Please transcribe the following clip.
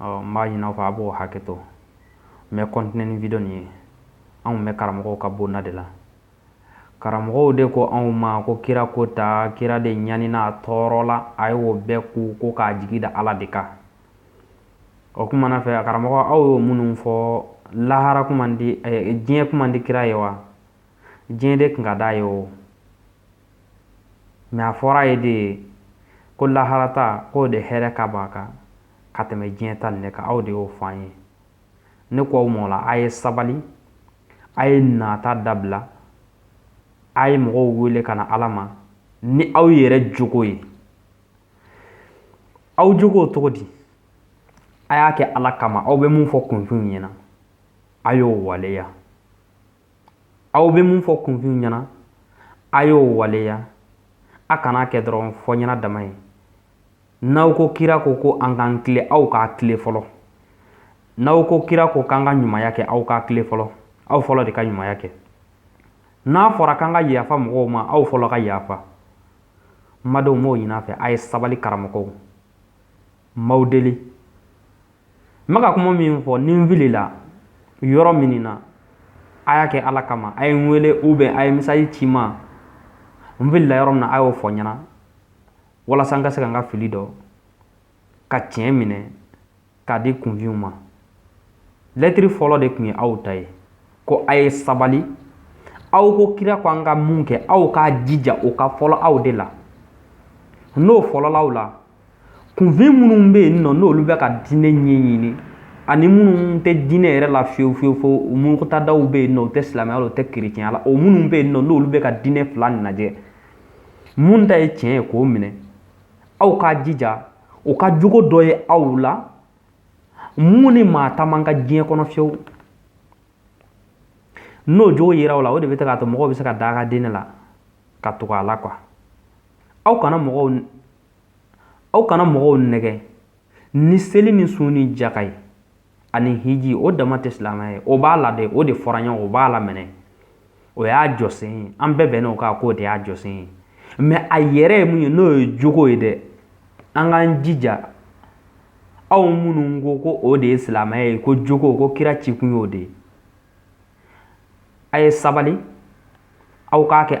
ɔ n b'a ɲini aw fɛ a b'o hakɛ to n bɛ kɔntine ni video nin ye anw bɛ karamɔgɔw ka bonda de la karamɔgɔw de ko anw ma ko kira ko ta kira de ɲanina a tɔɔrɔla a ye o bɛɛ kun ko k'a jigi da ala de kan o kuma na fɛ a karamɔgɔ aw y'o minnu fɔ lahara kun man di eh, diɲɛ kun man di kira ye wa diɲɛ de kun ka d'a ye o mɛ a fɔr'a ye de ko lahara ta k'o de hɛrɛ ka b'a kan ka tɛmɛ diɲɛ ta nin kan aw de y'o fɔ an ye ne ko aw m'o la a ye sabali a ye nata dabila a ye mɔgɔw wele ka na ala ma ni aw yɛrɛ jogo ye aw jogo cogo di a y'a kɛ ala kama aw bɛ mun fɔ kunfinw ɲɛna a y'o waleya aw bɛ mun fɔ kunfin ɲɛna a y'o waleya a kana kɛ dɔrɔn fɔ ɲɛna dama ye n'aw ko kira ko ko an k'an tilen aw k'a tilen fɔlɔ n'aw ko kira ko k'an ka ɲumanya kɛ aw k'a tilen fɔlɔ aw fɔlɔ de ka ɲumanya kɛ n'a fɔra k'an ka yafa mɔgɔw ma aw fɔlɔ ka yafa madenw m'o ɲin'a fɛ a ye sabali karamɔgɔw m'aw deli ma ka kuma min fɔ ni n filila yɔrɔ min na a y'a kɛ ala kama a ye n wele ou bien a ye mesazi ci n ma n filila yɔrɔ min na a y'o fɔ n ɲɛna walasa n ka se ka n ka fili dɔn ka tiɲɛ minɛ k'a di kunfinw ma lɛtiri fɔlɔ de tun ye aw ta ye ko a ye sabali aw ko kira ko an ka mun kɛ aw k'a jija o ka fɔlɔ aw de la n'o fɔlɔl'aw la kunfin minnu bɛ yen nɔ n'olu bɛ ka diinɛ ɲɛɲini ani minnu tɛ diinɛ yɛrɛ la fiyewu fiyewu fiyewu murutadaw bɛ yen nɔ u tɛ silamɛya la u tɛ kerecɛnya la o minnu bɛ yen nɔ n'olu bɛ ka diinɛ fila lajɛ mun ta ye tiɲɛ ye k'o minɛ aw k'a jija o ka jogo dɔ ye aw la mun ni maa ta man kan diɲɛ kɔnɔ fiyewu n'o jogo yera aw la o de bɛ k'a to mɔgɔw bɛ se ka da a ka diinɛ la ka tugu a la kuwa aw kana mɔgɔw aw kana mɔgɔw nɛgɛn ni seli ni sun ni jaka ye ani hiji o dama tɛ silamɛya ye o b'a la dɛ o de fɔra ɲɔgɔn o b'a la minɛ o y'a jɔsen ye an bɛɛ bɛnn'o kan k'o de y'a jɔsen ye mɛ a yɛrɛ ye mun ye n'o ye jogo ye dɛ an k'an jija aw minnu ko ko o de ye silamɛya ye ko jogo ko kira cikun y'o de ye a ye sabali aw k'a kɛ